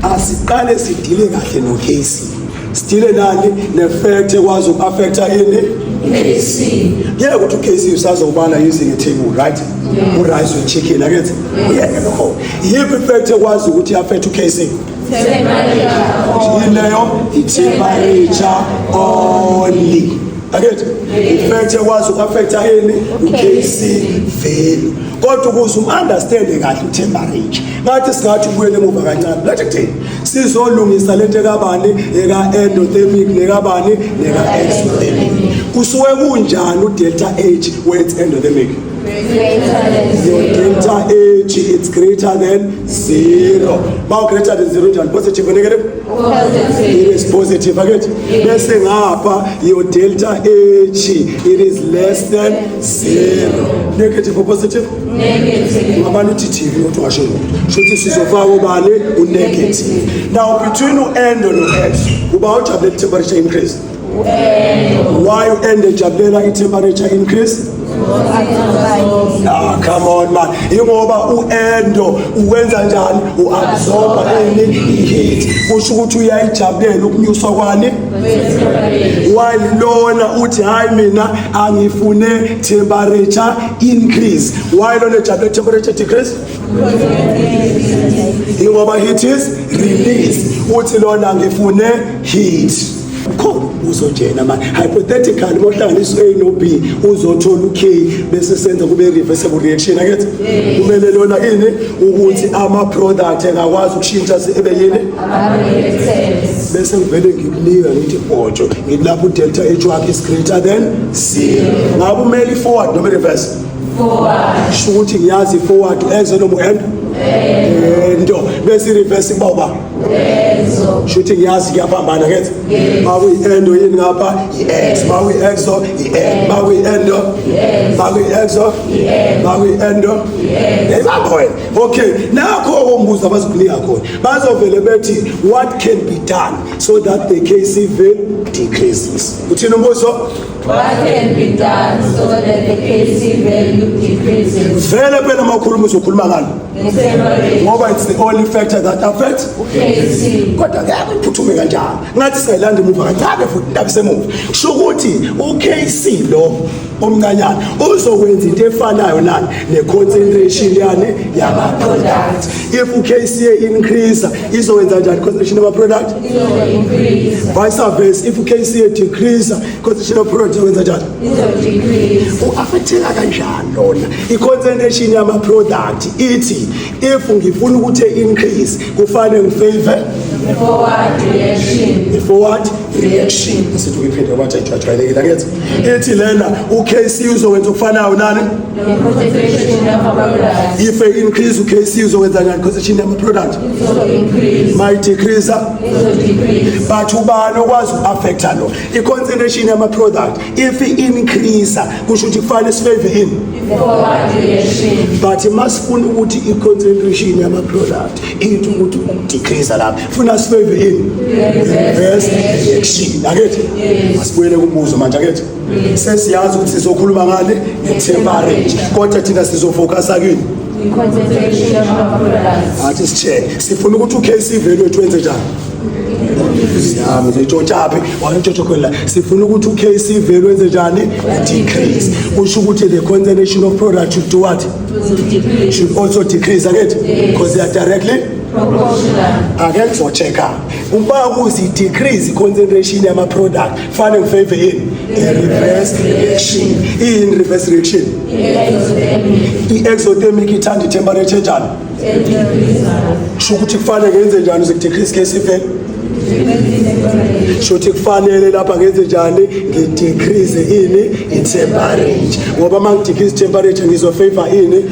asiqale sidile kahle no case sidile nani ne fact ekwazi uku affect ini KC yeah ukuthi uKC usazobala using a table right u rice with chicken akenze uyeke lokho yipi fact ekwazi ukuthi affect uKC yileyo itemperature only akethi ifact ekwazi uku affect ini uKC vele kodwa ukuze u understand kahle itemperature ngathi singathi ubuyele emuva kancane ngathi kuthini sizolungisa lento ekabani eka-endothermic nekabani neka-exothermic kusuke kunjani udelta h where it's endothermic your delta h it's greater than zero ma ugreater than zero njani positive negative it is positive akethi bese ngapha your delta h it is less than zero negative or positive negative abantu uthithile ukuthi washo lokho shuthi sizofaka ubani unegative now between u-end no-s uba ujabule i-temperature increase why u-end ejabulela i-temperature increase Ah, come on man ingoba u-endo uwenza njani u-absorba ini i-heat kusho ukuthi uyayijabulela ukunyuswa kwani why lona uthi hhayi mina angifune temperature increase why lona ejabule temperature decrease ingoba heat is release uthi lona ngifune heat khona uzojena manje hypothetically mohlanganisa u-a no-b uzothola u-k bese senza kube reversible reaction akethi kumele lona ini ukuthi ama-product engakwazi ukushintsha ebe yini bese ngivele ngikunika ngithi bhotsho ngilapho udelta h wakhe is greater than ngabe umele i-forward noma i-reverse sho ukuthi ngiyazi i-forward eze nomu and ento bese i-reverse boba sho ukuthi ngiyazi kuyaphambana kethe makuyi-endo yini ngapha i-ex makuyi-exo i-e makuyi-endo makuyi-exo makuyi-endo yayibamba wena okay nakho okombuzo abazokunika khona bazovele bethi what can be done so that the case even decreases. Uthini umbuzo? What can be done so that the KC value decreases? Vele phela makhuluma uzokhuluma ngalo. Ngoba it's the only factor that affects KC. Kodwa ngeke uphuthume kanjalo. Ngathi singayilanda imuva kancane futhi ndakusemuva. Kusho ukuthi uKC lo omncanyana uzokwenza into efanayo nani ne-concentration yani yama-product if ukca increase izokwenza njani concentration yama-product vice versa if ukca decrease concentration yama-product izokwenza njani u-afatheka kanjani lona i-concentration yama-product ithi if ngifuna ukuthi e-increase kufanele ngifavor i-forward reaction asithi uyiphinde ngoba nje ajwayelekile akenzi ethi lena uKC uzowenza ukufanayo nani if I increase uKC uzowenza ngani concentration yama product my decrease but ubani okwazi uaffecta lo i concentration yama product if i increase kusho ukuthi kufanele sifave in but masifuna ukuthi i concentration yama product into ukuthi ukudecrease lapha funa sibeve yini yes action akethi asibuyele kumbuzo manje akethi sesiyazi ukuthi sizokhuluma ngani ngetemperate kodwa thina sizofocusa kini athi sitshele sifuna ukuthi ukc value wethu wenze njani siyami zitshotshaphi wanitshotshokholela sifuna ukuthi ukc value wenze njani decrease kusho ukuthi the concentration of product should do what should also decrease akethi because they are directly akekuvothe kabi uba kuzi-decrease i-concentration yama-product fane ngifave yini i-reverse reaction iyini reverse reaction i-exothermic ithanda i-temperature njani sho ukuthi kufanele ngenze njani uze ku-decrease case ifele shothi kufanele lapha ngenze njani ngidecrease ini itemperature ngoba uma ngidecrease itemperature ngizofavor ini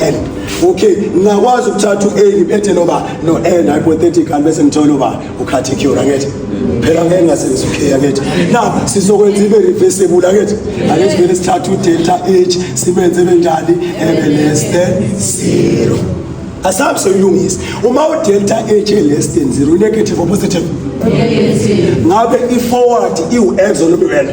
and okay ngingakwazi ukuthatha u-a ngiphethe noba no-n hypothetical bese ngithole uba ukhathicure angithi phela ngeke ngasenza u-k angithi na sizokwenza ibe reversible angithi angithi vele sithatha udelta h sibenze benjani ebe less than zero asabe soyilungisa uma udelta h e-less than zero unegative or positive ngabe i-forward iwu-ex or noma iwena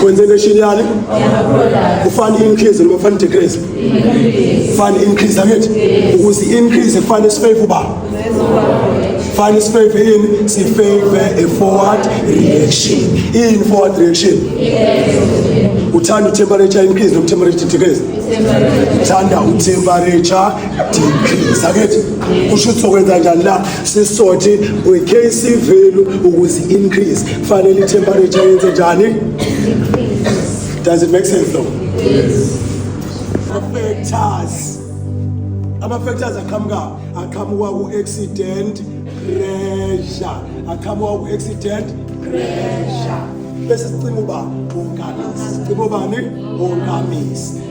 Concentration yani? Ufani increase noma ufani decrease? Ufani increase angithi? Ukuze increase ufani sifave uba. Fani sifave yini? Sifave a forward reaction. In forward reaction. Uthanda temperature increase noma temperature decrease? Uthanda temperature sakethi kusho ukuthi sokwenza njani la sisothi kwi-kc value ukuze increase kufanele i-temperature yenze njani does it make sense though yes. factors ama-factors aqhamuka aqhamuka ku-accident pressure aqhamuka ku-accident pressure bese sicima uba ungamisi sicima ubani ungamisi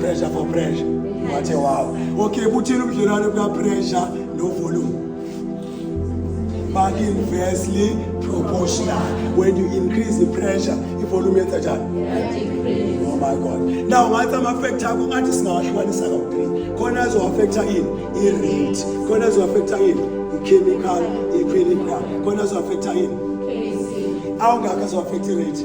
pressure for pressure wathe wawo okay buthini ubudlelwane bukapressure novolume baku-inversely proportional when you increase the pressure ivolume yenza njani oh my god now ngathi ama-factor akho ngathi singawahlukanisa kawu-three khona azowaffecta ini i-rate khona azowaffecta ini i-chemical i-equilibrium khona azowaffecta ini awungakho azowaffecta i-rate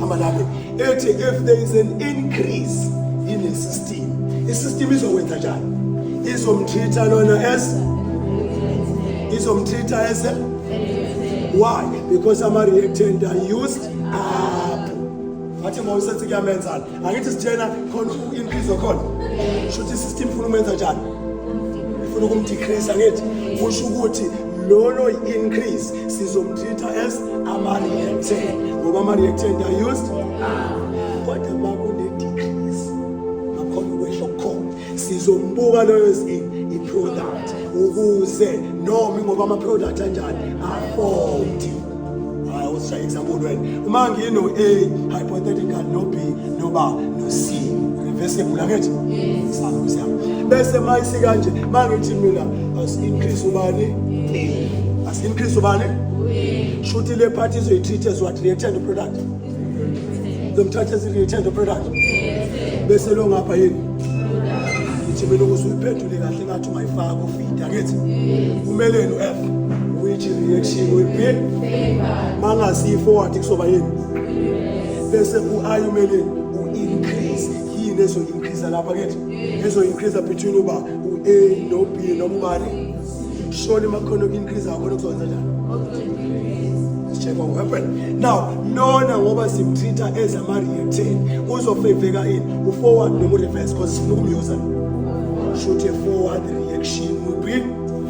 hamba lapho ethi if there is an increase in a system isystem izokwenza njani izomthitha lona as izomthitha as why because ama reactant are used up wathi mawusethi kuyamenzana Angithi sitshela khona inhliziyo khona. Shuthi system funa umenza njani? Funa ukumdecrease angithi kusho ukuthi lolo increase sizomtreat as amareactant ngoba amareactant are used. Ah. sizombuka loyo zini i-product ukuze noma ingoba ama-product anjani afodi hayi usishaye example wena uma ngino-a hypothetical no-b noba no-c reversible akethi sakuze bese mayisi kanje ma ngithi mina asi-increase ubani asi-increase ubani shuthi le phathi izoyi-treat as what reactant product lomthatha ethi ngithanda product bese lo ngapha yini ngithi mina ukuze uyiphendule kahle ngathi ungayifaka ofida ngithi kumeleni u-f which reaction will be mangasifo wathi kusoba yini bese u-i umeleni u-increase yini ezoyi-increase lapha kithi ezoyi-increase between uba u-a no-b noma ubani shoni makhono increase akona kuzokwenza njani check what happened now nona ngoba simtreat-a as ama-retain uzofeveka ini u-forward noma u-reverse because sifuna ukumyoza shoot a forward reaction will be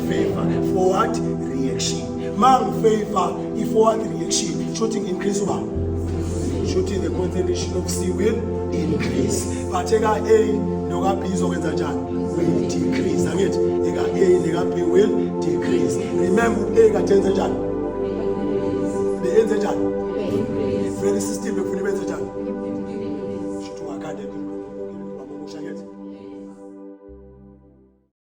favor forward reaction ma ngifavor i-forward reaction shooting increase uba shooting the concentration of c will increase but eka A noka B izokwenza njani will decrease angithi eka A neka B will decrease remember A kade enze njani benze njani vele system befuna benze njani